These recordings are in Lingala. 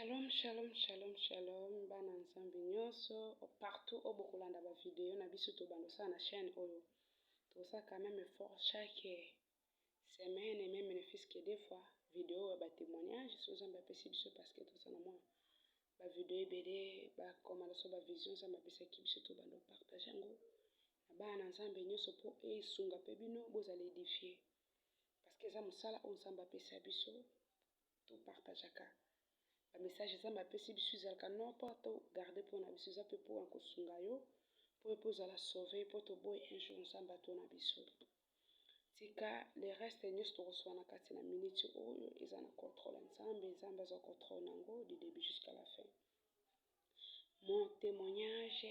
Shalom, shalom, shalom, shalom, bana nzambe nyonso, partout oyo bokolanda ba video na biso tobanda kosala na chaîne oyo. Tokosala quand même effort chaque semaine et même ne fût que deux fois video ya ba témoignages so nzambe apesi biso parce que toza na mwa ba video ebele ba komanda so ba vision nzambe apesaki biso tobanda kopartage yango na bana na nzambe nyonso mpo esunga mpe bino bozala edifie parce que eza mosala oyo nzambe apesa biso to partageaka ba message Nzambe apesi biso ezalaka non pas to garde mpo na biso, eza mpe mpo na kosunga yo mpo yo mpe ozala sauve, mpo toboyi un jour Nzambe atuna biso. Tika le reste nyonso tokosolola na kati na minute oyo eza na contrôle ya Nzambe, Nzambe azwa contrôle na yango du début jusqu'à la fin. Mon témoignage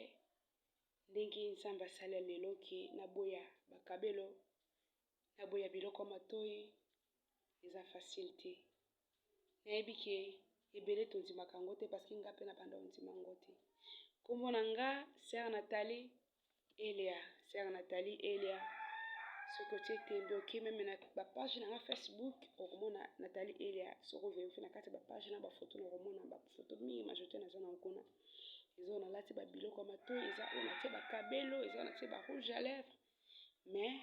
ndenge Nzambe asala lelo ke naboya bakabelo Na boya biloko ya matoyi eza facile te nayebi ke ebele tondimaka yango te parce que nga pe na banda ondima yango te kombo na nga sœur Nathalie Elia sœur Nathalie Elia soki otie tembe oke meme na ba page na nga Facebook okomona Nathalie Elia soki overifi na kati ya ba page na ba photo na okomona ba photo mingi majorité naza na okuna eza oyo nalati ba biloko ya matoyi eza oyo natie ba kabelo eza oyo natie ba rouge à lèvres mais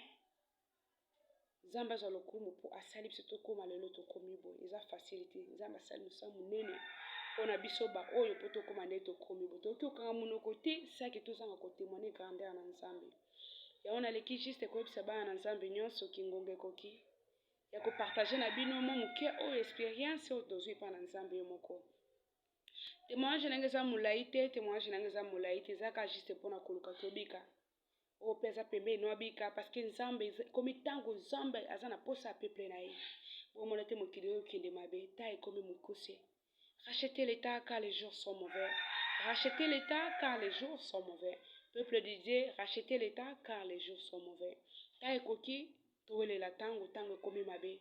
nzambe azwa lokumu mpo asali biso tokóma lelo tokomi boye eza facile te nzambe asali mosala monene mpo na biso baoyo mpo tokóma nde tokomi boye tokoki kokanga monoko te saki tozanga kotemoine grandeur na nzambe yango naleki juste koyebisa bana na nzambe nyonso kingonga ekoki ya kopartage na bino mwa moke oyo experience oyo tozwi epai na nzambe yo moko temoignage na ngai eza molai te temoignage na ngai eza molai te ezaka juste mpo na koluka tobika oyo mpe aza pembeni no abika parceke nzambe ekomi ntango nzambe aza na mposa ya peple na ye bomona te mokili oyo okende mabe ta ekomi mokuse rachete leta car les jours sont mauvais rachete leta car les jours sont mauvais peuple de dieu rachete leta car les jours sont mauvais ta ekoki Towelela tango, tango ekomi mabe.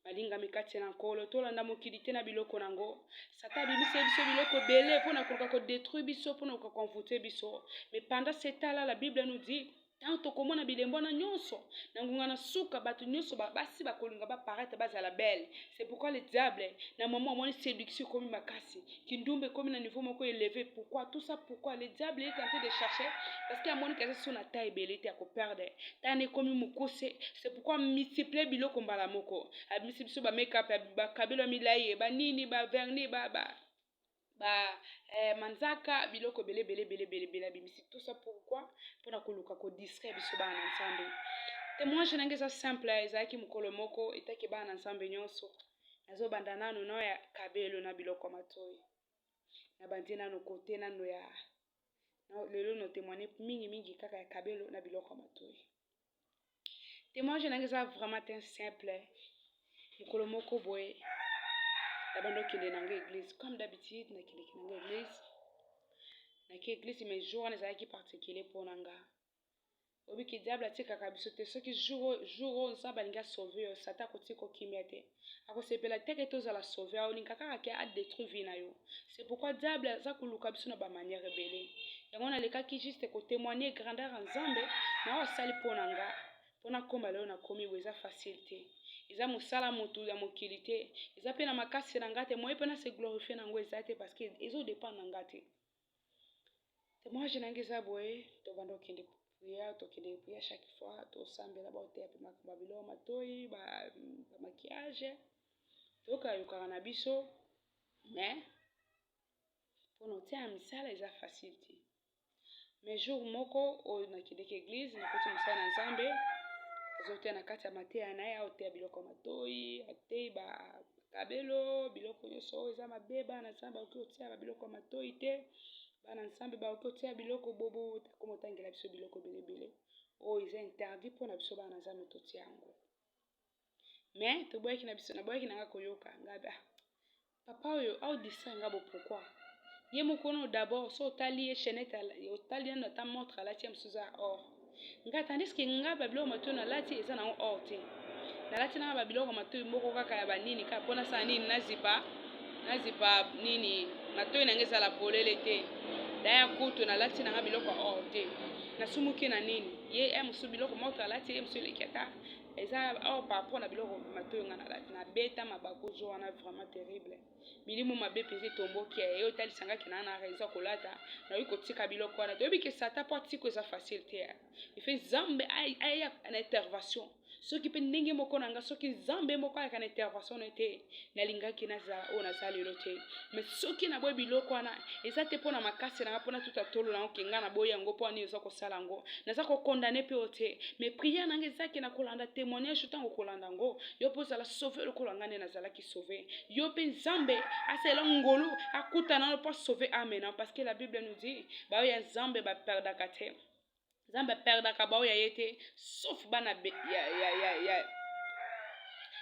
Balingami kati na Nkolo, tolanda mokili te na biloko na ngo. Satan abimiseli biso biloko ebele mpo na koluka kodetruire biso, mpo na koluka koenvoute biso. Mais pendant ce temps là, la Bible nous dit ntango tokomona bilembo wana nyonso na ngonga na suka bato nyonso basi bakolinga baparaitre bazala belle c'est pourquoi le diable na mama amoni séduction ekomi makasi kindumba ekomi na niveau moko eleve pourquoi tout ça pourquoi le diable est tenté de chercher parce que amoniki aza so na ta ebele te ya koperde tana ekomi mokuse c'est pourquoi multiplie biloko mbala moko abimisi biso bamekap bakabelo ya milai ye banini baverni ba, ba, ba, ba ba eh, manzaka biloko ebele ebele ebele ebele ebele abimisi tout ça pourquoi mpona koluka kodistraire biso bana na nzambe témoignage na ngai eza simple ezalaki mokolo moko etaki bana na nzambe nyonso nazo banda nanu na ya kabelo na biloko matoyi na bandi nanu kote nanu ya lelo no témoigner mingi mingi kaka ya kabelo na biloko ya matoyi témoignage nange eza vraiment ten simple mokolo moko boye nabandi okende nango église comme d'habitude nakendeki nango église naki église mais jour wana ezalaki particulier mpo na nga obiki diable atikaka biso te soki jour jour oyo nzambe alingi asauve yo satan akotika okimia te akosepela te ke tozala sauve aolinga kaka ke adetruire vie na yo c'est pourquoi diable aza koluka biso na bamanière ebele yango nalekaki juste kotemoigne grandeur ya nzambe na oyo asali mpo na nga mpo nakoma lelo nakomi bo eza facile te eza mosala motu ya mokili te eza mpe na makasi na nga te moye mpe na se glorifie na yango eza te parce que ezo dépendre na nga te Temwage na ngai eza boye, tobanda kokende priere, tokende priere chaque fois, tosambela baoteya mpe makambo ya biloko matoi, bamakiage, toyokayokaka na biso, mais mpo na otia na misala eza facile te. Mais jour moko oyo nakendeki eglise, nakoti mosala na Nzambe, azoteya na kati ya mateya na ye, aoteya biloko ya matoi, ateyi ba Kabelo biloko nyonso oyo eza mabe bana nsambe bakoki kotia ba biloko ya matoi te bana nsambe bakoki kotia biloko bobo akoma otangela biso biloko ebele ebele oyo eza interdit mpo na biso bana nsambe totia yango me toboyaki na biso naboyaki na nga koyoka ngabi ah, papa oyo aodisa nga bo pourkui ye moko no dabord so otali ye chainete otali nano ata montre alati ya mosusu eza or nga tandis que nga ba biloko matoyi nalati eza nango or te nalati nanga ba biloko matoyi moko kaka ya banini kaka mpo nasala nini nazipa nazipa nini matoyi nanga ezala polele te daya kutu nalati nanga biloko ya or te nasumuki na nini ye ya mosusu biloko moto alati ye mosusu eleki ata eza or par rapport na biloko matoyi nga nalati nabeta mabakuzu wana vraiment terrible milimo mabe mpenza etomboki ya yo otalisa nga kena na raison ya kolata nayoki kotika biloko wana toyebi ke sata mpo atiko eza facile te efe nzambe aya na intervention soki mpe ndenge moko na nga soki nzambe moko ayaka na intervention na te nalingaki nazala oyo naza lelo te mais soki naboyi biloko wana eza te mpo na makasi na nga mpo natuta tolo na yango ke nga naboyi yango mpo ani oza kosala yango naza kokondane mpe oyo te mais priere na nga ezaki na kolanda témoignage ntango kolanda yango yo mpe ozala sauve lokola nga nde nazalaki sauver. Yo pe Nzambe asala ngolu akutana na po sauver ame na parce que la Bible nous dit ba ya Nzambe ba perdaka te. Nzambe perdaka ba ya ye te sauf bana ya ya ya, ya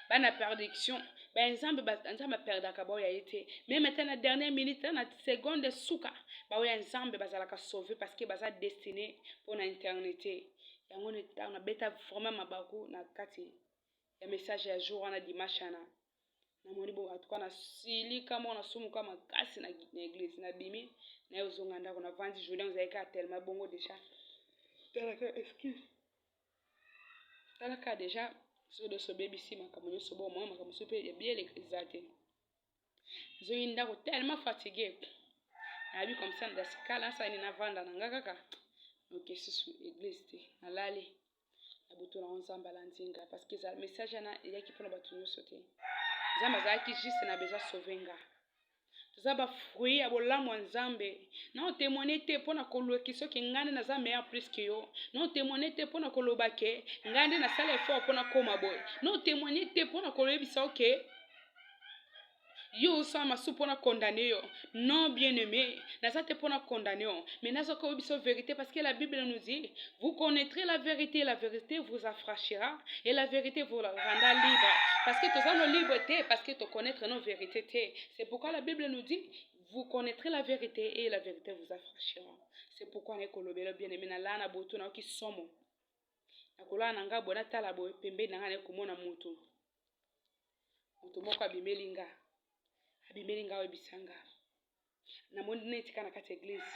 bana perdiction ba Nzambe ba Nzambe perdaka ba ya ye te. Même ata na dernière minute na seconde suka ba ya Nzambe bazalaka sauver parce que baza destiné pour na éternité. Yango ntango nabeta vraiment mabaku na kati ya message ya jour wana dimanche wana namoni bo atuka nasilika moko nasumuka makasi na, na eglise nabimi naye ozonga ndako navandi journée ozalaki kaka tellement bongo déjà talaka excuse talaka déjà soki nyonso obebisi makambo nyonso bo omona makambo mosusu mpe ya bieleka eza te nazongi ndako tellement fatigue nayebi comme ça ndasikala nasala nini navanda na nga kaka noke susu eglise te nalali na butu nango nzambe alandi nga parce que message wana eyaki mpona bato nyonso te nzambe azalaki juste na besoin sauve nga toza bafruit ya bolamu ya nzambe na otemoigne te mpo na koluki soki ngai nde naza meilleur plus ke yo na otemoigne te mpo na koloba ke ngai nde nasala effort mpo nakoma boye na otemoigne te mpo na koyebisa oke okay. yo osala masu mpo na condamne yo non bien aimé naza te mpo na condamne yo mais naza koyebisa vérité parce que la bible nous dit vous connaîtrez la vérité la vérité vous affranchira et la vérité vous rendra libre parce que toza no libre te parce que toconnaître nos vérité te c'est pourquoi la bible nous dit vous connaîtrez la vérité et la vérité vous affranchira c'est pourquoi naye kolobela bien aimé nalaa na boto nayoki somo nakolala na ngai boye natala boye pembeni na ngai naye komona moto moto moko abimeli nga abimeli nga oyebisa nga namoni neti ka na kati ya eglise